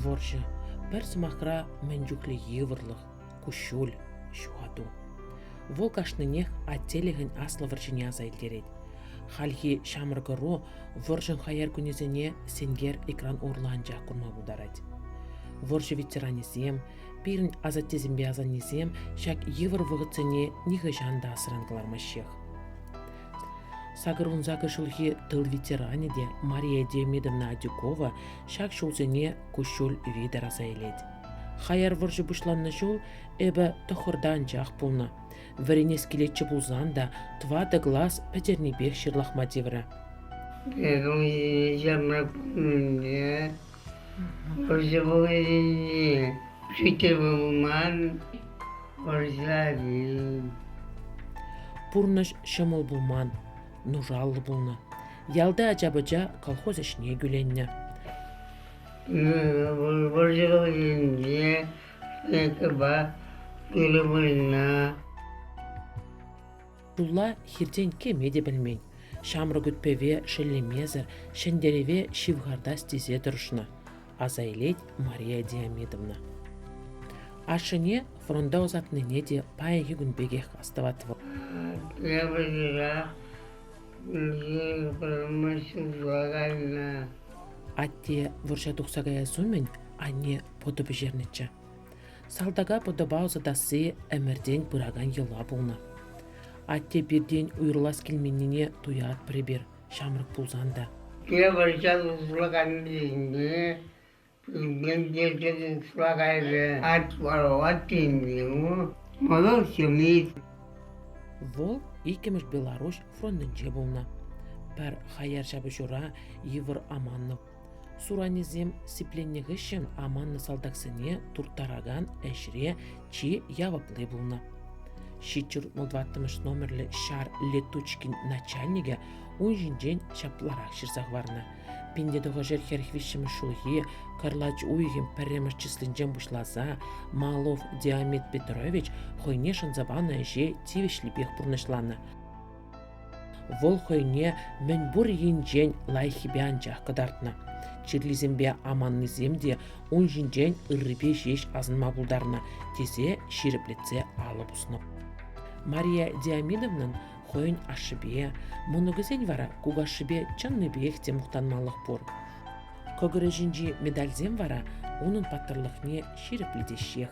Вӑрҫӑ – пӗр сӑмахра мӗн чухлӗ йывӑрлӑх, куҫҫуль, ҫухату. Вӑл кашнинех аттелӗхӗн аслӑ вӑрҫине аса илтерет. Хальхи ҫамрӑк ӑру вӑрҫӑн хаяр кунӗсене сенкер экран урлӑ анчах курма пултарать. Вӑрҫӑ ветеранӗсем, Пирӗн асаттесемпе асаннесем ҫак йывӑр вӑхӑтсене нихӑҫан та асран кӑлармаҫҫех. Сакӑр ун сакӑр ҫулхи тыл ветеранӗ те Мария Демидовна Адюкова ҫак ҫулсене куҫҫуль витӗр аса илет. Хаяр вӑрҫӑ пуҫланнӑ ҫул эпӗ тӑхӑрта анчах пулнӑ. Вӗренес килетчӗ пулсан та тӑватӑ класс пӗтернипех ҫырлахма тиврӗ. Первый я могу Вӑрҫӑ пулман, вӑрҫа Пурнӑҫ ҫӑмӑл пулман, нушаллӑ пулнӑ. Ялти ача-пӑча колхоз ӗҫне кӳленнӗ. Вӑрҫӑ вӑхӑтӗнче СНКпа тырӑ пуйна Тулла хиртен кӗме те пӗлмен, ҫамрӑк ӳт-пӗве шеллемесӗр, ҫӗнтерӗве ҫывхартас тесе тӑрӑшнӑ, аса илет Мария Диамидовна. Ашшӗне фронта ӑсатнине те паянхи кун пекех астӑвать вӑл. Я поздравляю ҫурла кайнӑ. Атте вӑрҫа тухса каяс умӗн анне пӑтӑ пӗҫернӗччӗ. Салтака пӑтӑпа ӑсатасси ӗмӗртен пыракан йӑла пулнӑ. Атте пиртен уйрӑлас килменнине туятпӑр эпир, ҫамрӑк пулсан та. Те вӑрҫа тухлакансене пӳртен тиркекен флагайвӗ от ворот тению мӑнур ҫемйи. Вӑл иккӗмӗш Беларуҫ фронтӗнче пулнӑ. Пӗр хаяр ҫапӑҫура Ивар Аманнов Суранӗсем сипленнӗ хыҫҫӑн аманнӑ салтаксене турттаракан ӗҫре чи явапли пулнӑ. Ҫичҫӗр ваттӑмӗш номерлӗ ҫар летучкин начальникӗ ун ҫинчен ҫапларах ҫырса хӑварнӑ. 59 хӗрӗх виҫҫӗмӗш ҫулхи кӑрлач уйӑхӗн пӗрремӗш числинчен пуҫласа Малов Диамет Петрович хӑйне шанса панӑ ӗҫе тивӗҫлипех пурнӑҫланӑ. Вӑл хӑйне мӗнпур енчен лайӑххипе анчах кӑтартнӑ. Чирлисемпе аманнисем те ун ҫинчен ыррипе ҫеҫ асӑнма пултарнӑ, тесе ҫирӗплетсе алӑ пуснӑ. Мария Диамидовнан хӑйӗн ашшӗпе, мӑнукӗсен вара кукашшӗпе чӑннипех те мухтанмаллах пур. Кӑкӑрӗ ҫинчи медальсем вара унӑн паттӑрлӑхне ҫирӗплетеҫҫех.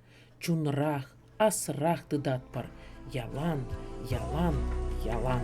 Чунрах, асрах тытатпӑр ялан, ялан, ялан.